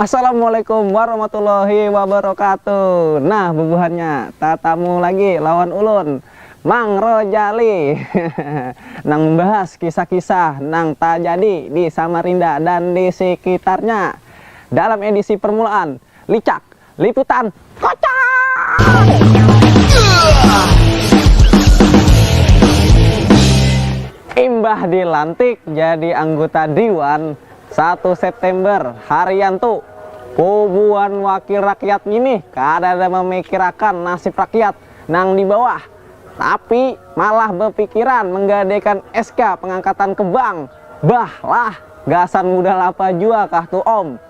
Assalamualaikum warahmatullahi wabarakatuh. Nah, bubuhannya tatamu lagi lawan ulun, Mang Rojali, nang membahas kisah-kisah nang tajadi di Samarinda dan di sekitarnya dalam edisi permulaan, Licak. Liputan Kocak! Imbah dilantik jadi angguta Diwan satu September, Haryanto, puguan wakil rakyat nginih kadada mamikirakan nasib rakyat nang di bawah, tapi malah bapikiran manggadaikan SK pangangkatan ke bank. Bah lah, gasan mudal apa jua kah tu Om?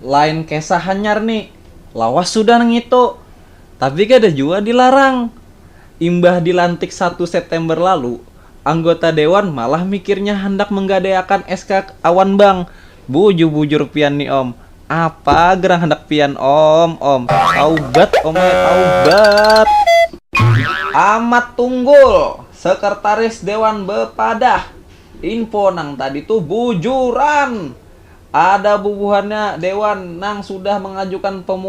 Lain kesah hanyar ni, lawas sudah nangitu, tapi kada jua dilarang. Imbah dilantik satu September lalu, anggota dewan malah mikirnya handak menggadaiakan SK awan bank. Bujur-bujur pian ni om, apa gerang handak pian om, om. Taubat om ai, taubat. Amat Tunggul, Sekretaris Dewan bepadah. Info nang tadi tu bujuran. Ada bubuhannya dewan nang sudah mangajukan pemohonan.